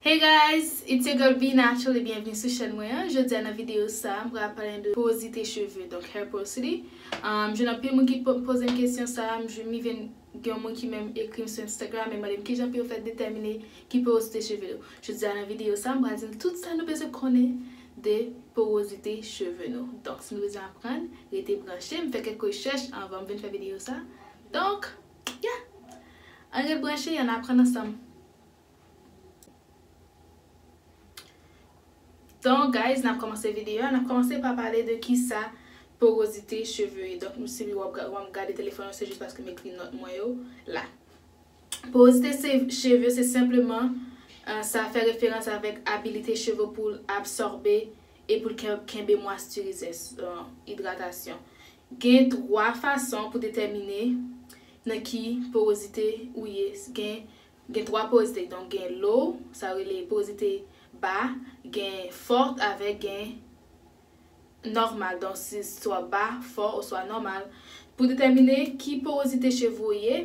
Hey guys, it's your girl Vee Naturally byenvni sou chèn mwen an, jodi a nan video sa a m pral pale de porosite cheve donk hair porosity, m jwenn anpil moun ki poze m kesyon sa a, m jwenn li vin gen yon moun ki menm ekri m sou Instagram e mande m kijan pou yo fè detèmine ki porosite cheve yo, jodi a nan video sa a m pral di nou tout sa nou bezwen konnen de porosite cheve nou, donk si nou bezwen aprann rete branche, m fè kèk rechèch anvan m vin fè video sa a donk yeah! An ret branche e an aprann ansanm. Don guys nap komanse video a nap komanse pa pale de kisa porozite cheve ye donk m sibi wap wèm gade telefòn ou se jis paske m ekri nòt mwen yo la porozite se cheve se senpleman sa fè referans avèk abilite cheve poul absòbe e poul kenbe mwastirizès idratasyon gen 3 fason pou detèmine nan ki porozite ou ye gen Gen twa poz te, donk gen low, sa yo rele pozite, ba, gen fort avèk gen Nòmal, donk si swa ba, fò oswa nòmal. Pou detèmine ki porozite cheve ou ye,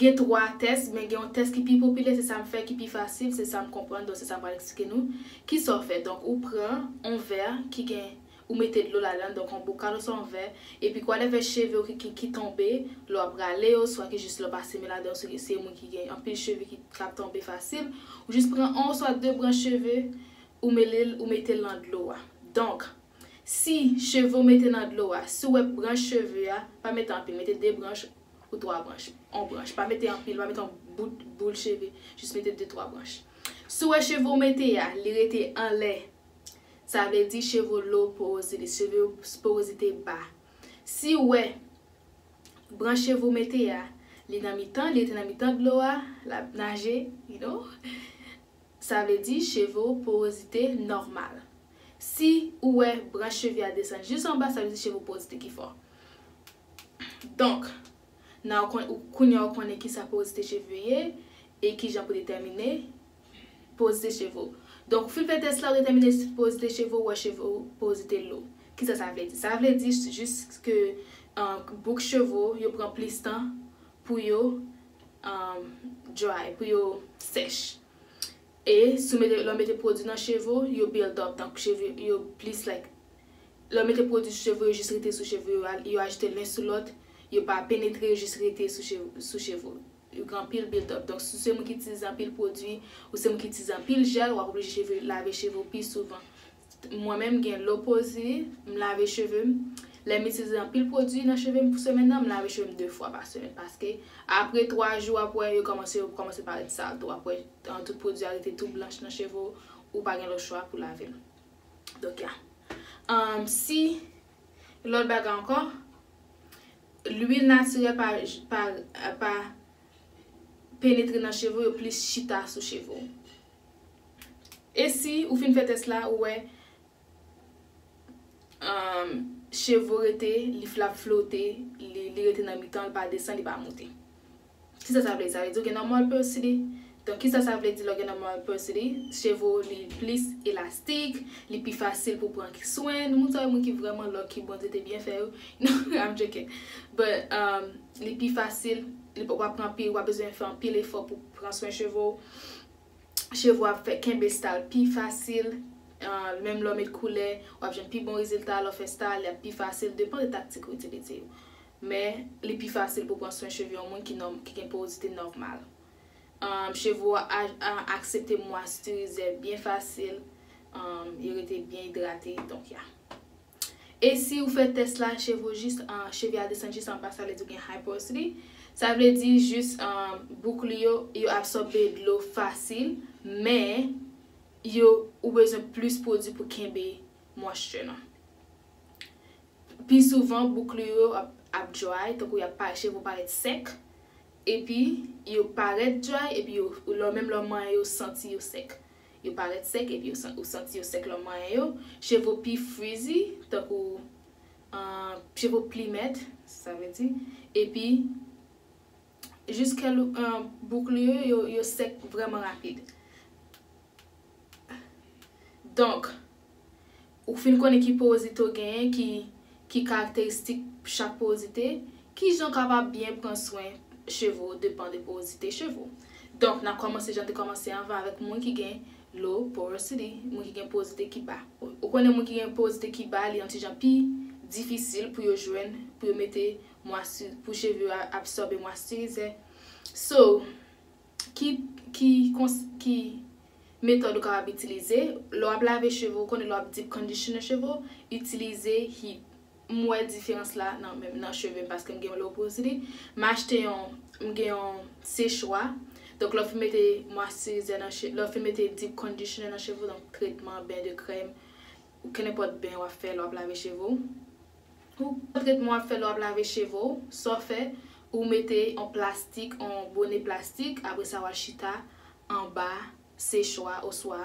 gen twa tès, men gen yon tès ki pi popilè, se sa m fè ki pi fasil, se sa m konprann, donk se sa m pral eksplike nou. Kisa w fè? Donk ou pran yon vè ki gen Ou mete dlo ladan, donk yon bokal oswa yon vè, epi kwa de vè cheve ou ki ki ki tonbe, lè w ap rale yo, swa ki jis lè w pa simen ladan yo, si se yon moun ki gen anpil cheve ki k ap tonbe fasil, ou jis pran 1 oswa 2 branch cheve, ou mele l, ou mete l nan dlo a. Donk, si cheve ou mete nan dlo a, si w wè branch cheve a, pa mete anpil, mete 2 branch ou 3 branch, 1 branch, pa mete anpil, pa mete yon bout boul cheve, jis mete 2, 3 branch. Si w wè cheve ou mete a, li rete anlè, Sa vle di cheve low porosity, cheve yo porosite ba. Si ou wè branch cheve ou mete a, li nan mitan, li rete nan mitan dlo a, l ap naje, you know, sa vle di cheve ou porosite nòmal. Si ou wè branch cheve a desann jis anba, sa vle di cheve ou porosite ki fò. Donk, now, kounye a ou konnen kisa porosite cheve ye e kijan pou detèmine Porozite cheve w. Donk, ou fin fè tès la, ou detèmine si porozite cheve ou wè cheve ou porozite lou. Kisa sa vle di? Sa vle di jis ke bouk cheve w yo pran plis tan pou yo dry, pou yo sèch. E si w mete, lè w mete pwodui nan cheve w, yo build up, donk cheve yo plis like, lè w mete pwodui sou cheve w, yo jis rete sou cheve w, yo ajoute len sou lòt, yo pa penetre, yo jis rete sou cheve w. Yo gen anpil build-up. Donk si w se moun ki itilize anpil pwodui, ou se moun ki itilize anpil jèl, w ap oblije cheve lave cheve w pi souvan. Mwen menm m gen lopoze, m lave cheve m, lè m itilize anpil pwodui nan cheve m pou semèn nan, m lave cheve m 2 fwa pa semèn paske apre 3 jou w ap wè yo kòmanse yo kòmanse parèt sal tou, w ap wè tout pwodui a rete tou blanch nan cheve w, ou pa gen lòt chwa pou lave l. Donk ya. Si lòt bagay ankò. Lwil natirèl pa pa penetre nan cheve ou yo plis chita sou cheve ou. E si ou fin fè tès la ou wè cheve ou rete li flap flote li rete nan mitan li pa desann li pa monte. Kisa sa vle di? Sa vle di ou gen normal pursity. Donk kisa sa vle di lè w gen normal pursity? Cheve w li plis elastik, li pi fasil pou pran swen. Nou moun sa yo moun ki vrèman lucky Bondye te byen fè yo. I'm joking. But li pi fasil, li pa wap pran anpil, wap bezwen fè anpil efò pou pran swen cheve w. Cheve w ap fè kenbe style pi fasil. Menm lè w met koulè, wap jwenn pi bon rezilta lè w fè style, li ap pi fasil. Depan de taktik ou itilize yo. Men, li pi fasil pou pran swen cheve yon moun ki ki gen porozite nòmal. Umm cheve ou a aksepte mwastirize byen fasil, umm yo rete byen idrate donk ya. E si ou fè tès la cheve ou jis umm cheve a desann jis anba sa vle di ou gen high porosity, sa vle di jis umm bouk li yo, yo absòbe dlo fasil men yo ou bezwen plis pwodui pou kenbe moisture nan. Pi souvan bouk li yo ap dry, tankou y ap parèt, cheve w parèt sèk, epi yo parèt dry epi yo lè menm lè w manyen yo santi yo sèk. Yo parèt sèk epi ou santi yo sèk lè w manyen yo. Cheve w pi frizzy, tankou cheve w plimet, sa vle di, epi jiskèl bouk li yo, yo sèk vrèman rapid. Donk. Ou fin konnen ki powozite w genyen, ki ki karakteristik chak powozite, ki jan w kapab byen pran swen cheve w depan de powozite cheve w. Donk n a kòmanse jan n te kòmanse anvan avèk moun ki gen low porosity, moun ki gen powozite ki ba. Ou konnen moun ki gen powozite ki ba li yon ti jan pi difisil pou yo jwenn, pou yo mete mwastiriz, pou cheve yo absòbe mwastirizè. So. Ki ki kons ki metòd ou kapab itilize, lè w ap lave cheve ou konnen lè w ap deep conditioner cheve w, itilize heat. M wè diferans la nan menm nan cheve m paske m gen yon low porosity. M achte yon m gen yon sechwa, donk lè w fin mete moisturisè nan che lè w fin mete deep conditioner nan cheve w donk tretman, ben de krèm, kenenpòt ben w ap fè lè w ap lave cheve w. Pou tretman wap fè lè wap lave cheve w, sa w fè, ou mete yon plastik, yon bone plastik, apre sa wal chita anba sechwa oswa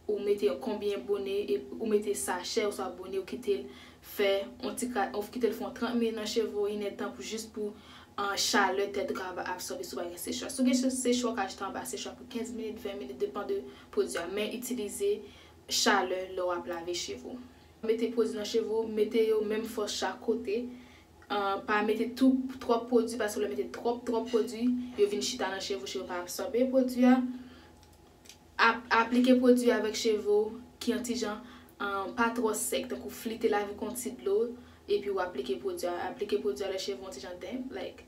ou mete yon konbyen bone epi ou mete sachè oswa bone ou kite l fè yon ti ka ou kite l fè yon 30 minit nan cheve w, inèd tan pou jis pou chalè tèt ou kapab absòbe si w pa gen sechwa. Si w gen sechwa ou ka chita anba sechwa pou 15 minit, 20 minit depan de pwodui a men itilize chalè lè wap lave cheve w. Mete pwodwi nan cheve w, mete yo menm fòs chak kote, pa mete tou twòp pwodwi paske lè w mete twòp twòp pwodwi, yo vin chita nan cheve w, cheve w pa absòbe pwodwi a. Ap aplike pwodwi avèk cheve w ki an ti jan, pa twò sèk tankou flite l avèk yon ti dlo epi w aplike pwodwi a. Aplike pwodwi a lè cheve w an ti jan damp like.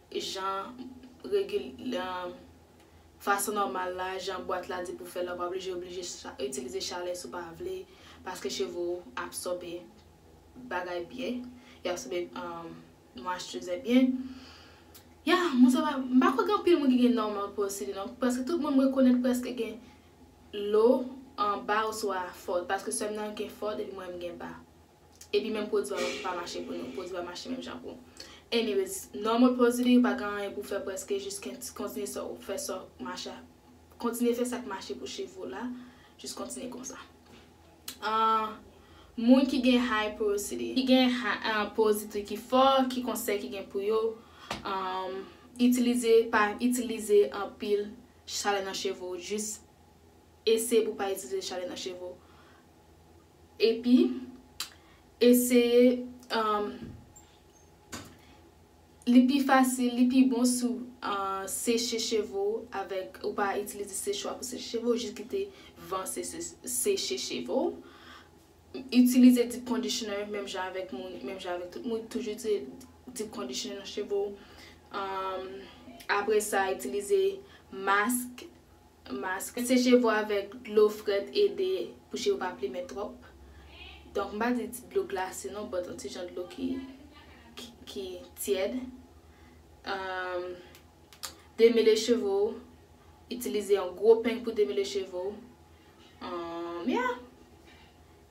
jan regil fason nòmal la, jan bwat la di pou fè la ou pa oblije oblije itilize chalè si w pa vle paske cheve w absòbe bagay byen yo absòbe moisturisè byen ya moun sa pa m pa kwè gen anpil moun ki gen normal pores skin non paske tout moun m rekonèt prèske gen lo anba oswa fò paske sè m nan gen fò depi m wè m gen ba. Epi menm pwodwi a pa mache pou nou, pwodwi a mache menm jan pou. Anyways, normal pwodwi ou pa gen anyen pou fè prèske jis kontinye sa ou fè sa mache kontinye fè sak mache pou cheve ou la, jis kontinye konsa. Moun ki gen high porosity, ki gen porosity ki fò, ki konsèy ki gen pou yo, itilize pa itilize anpil chalè nan cheve ou, jis eseye pou pa itilize chalè nan cheve ou. Epi, eseye, umm. Li pi fasil, li pi bon si w seche cheve w avèk, ou pa itilize sechwa pou seche cheve w, jis kite van seche cheve w. Itilize deep conditioner menm jan avèk moun, menm jan avèk tout moun, toujou itilize deep conditioner nan cheve w. Umm, apre sa, itilize mask. Mask. Seche vo avèk dlo frèt ede pou je yo pa plimen twòp. Donk m pa di ti dlo glase non but yon ti jan dlo ki ki tyèd. Demele cheve w. Itilize yon gwo peng pou demele cheve w. Yeah!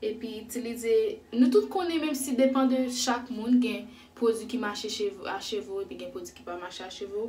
Epi itilize, nou tout konnen menm si depan de chak moun gen pwodui ki mache a cheve w epi gen pwodui ki pa mache a cheve w.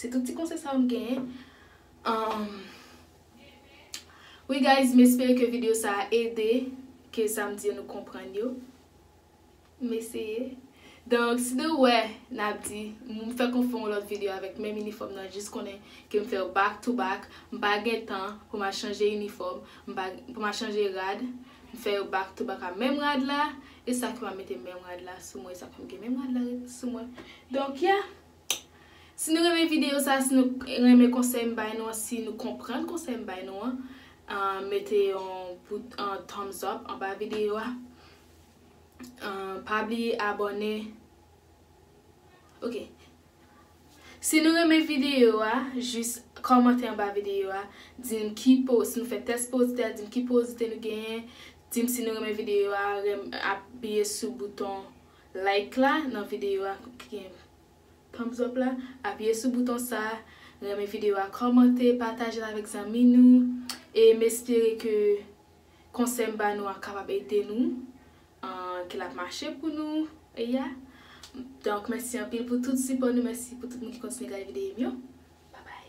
Se tout ti konsèy sa yo m genyen. Wi guys m espere ke video sa a ede ke sa m di yo nou konprann yo. M eseye. Donk si nou wè n ap di m fèk m fè yon lòt video avèk menm inifòm nan jis konnen ke m fè yo back to back m pa gen tan pou m al chanje inifòm pou m al chanje rad m fè yo back to back a menm rad la e sa ki m ap mete menm rad la sou mwen e sa ki m gen menm rad la sou mwen. Donk ya. Si nou renmen video sa si nou renmen konsèy m bay nou an si nou konprann konsèy m bay nou an mete yon thumbs up anba video a pa bliye abòne ok si nou renmen video a jis kòmante anba video a di m ki po si nou fè tès powozite a di m ki powozite nou genyen di m si nou renmen video a apiye sou bouton Like la nan videyo a ki gen thumbs up la apiye sou bouton sa renmen videyo a kòmante patajel avèk zanmi nou e m espere ke konsèy m ba nou an kapab ede nou an ke lap mache pou nou e ya donk mèsi anpil pou tout sipò nou mèsi pou tout moun ki kontinye gade videyo m yo babay.